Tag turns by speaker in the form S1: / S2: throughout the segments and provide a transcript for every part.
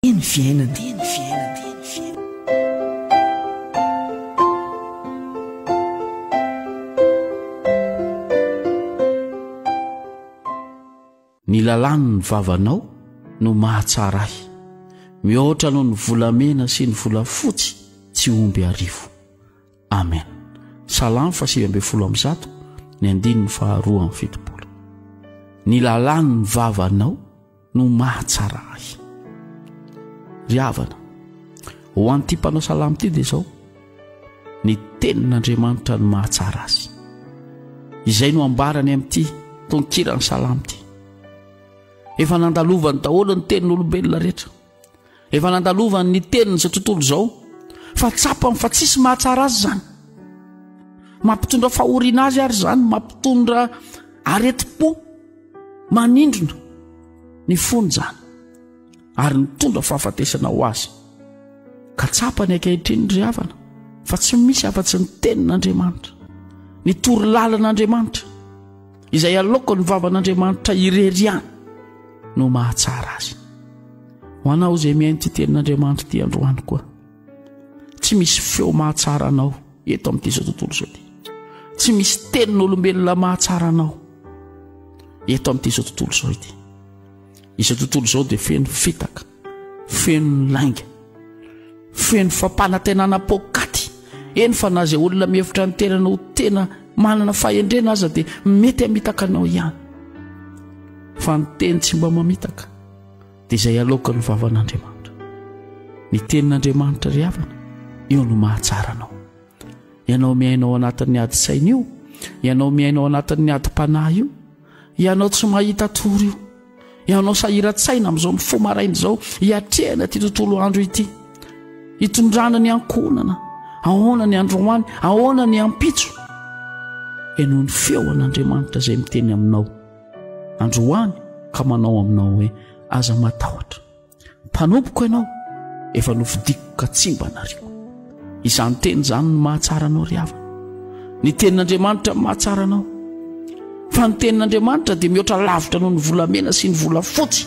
S1: Dia ny fiainana.
S2: Ny lalàn'ny vavanao no mahatsara ahy, mihoatra noho ny volamena sy ny volafotsy tsy omby arivo. Amen. Salamo fahasivy ambin'ny folo amby zato, ny andininy faharoa amby fitopolo. Ny lalàn'ny vavanao no mahatsara ahy ry havana ho an'ity mpanao salamo ity dia izao ny tenin'andriamanitra no mahatsara azy izay no ambarany amin'ity tonkiran'ny salamo ity efa nandalovan'ny daholo ny tenin'olombelona rehetra efa nandalovany ny teniny izao tontolo izao fa tsapany fa tsisy mahatsara azy zany mampitondra fahoriana azy ary zany mampitondra aretim-po manindrona ny fony zany ary nitondra fahafatesana ho azy ka tsapany ankehitriny ry havana fa tsy misy afa-tsy ny tenin'andriamanitra ny toro lalan'andriamanitra Izay aloako ny vavan'Andriamanitra irery ihany no mahatsara azy. Ho anao izay mihaino ity tenin'Andriamanitra ity androany koa. Tsy misy feo mahatsara anao eto amin'ity izao tontolo izao ity. Tsy misy tenin'olombelona mahatsara anao eto amin'ity izao tontolo izao ity. Izao tontolo izao dia feno fitaka. Feno ny lainga. Feno fampanantenana poakaty. Eny fa na izay olona mihevitra ny tenany ho tena manana fahendrena aza dia mety hamitaka anao ihany. Fa ny teny tsy mba mamitaka dia izay aloka ny vavan'Andriamanitra. Ny tenin'Andriamanitra ry havana, io no mahatsara anao. Ianao miaina ao anatin'ny adin-tsaina io, ianao miaina ao anatin'ny adim-panahy io, ianao tsy mahita tory io. ianao sahiran-tsaina amin'izao mifoha fo maraina izao hiatrehana ity tontolo andro ity hitondrana ny ankohonana ahoana ny androany ahoana ny ampitso ianao ny feo an'andriamanitra izay miteny aminao androany ka manao aminao hoe aza matahotra Mpanompoko ianao, efa nofidiko ka tsy mba nariako. Izany teny izany no mahatsara anao ry havana. Ny tenin'Andriamanitra no mahatsara anao. Fa ny tenin'Andriamanitra dia mihoatra lavitra noho ny volamena sy ny volafotsy.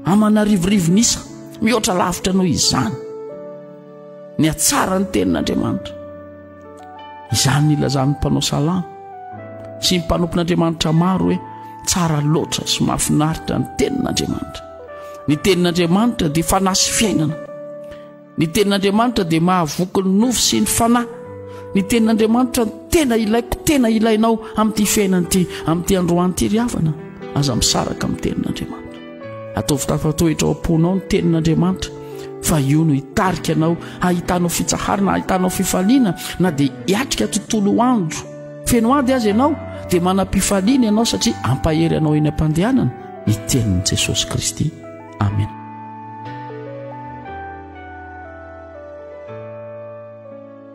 S2: Aman'arivorivo nisa, mihoatra lavitra noho izany. Ny hatsara ny tenin'Andriamanitra. izany nilazan'ny mpanao salamo sy ny mpanompon'andriamanitra maro hoe tsara loatra sy mahafinaritra ny tenin'andriamanitra ny tenin'andriamanitra dia fanahy sy fiainana ny tenin'andriamanitra dia mahavoky ny nofo sy ny fanahy ny tenin'andriamanitra ny tena ilaiko tena ilainao amin'ity fiainana ity amin'ity androany ity ry havana aza misaraka amin'ny tenin'andriamanitra Ataovy tafatohitra ao am-ponao ny tenin'Andriamanitra fa io no hitarika anao hahitanao fitsaharana, hahitanao fifaliana na dia hiatrika tontolo andro feno ady azy ianao dia manam-pifaliana ianao satria ampahery anao eny am-pandehanana ny tenin'i Jesosy Kristy. Amen.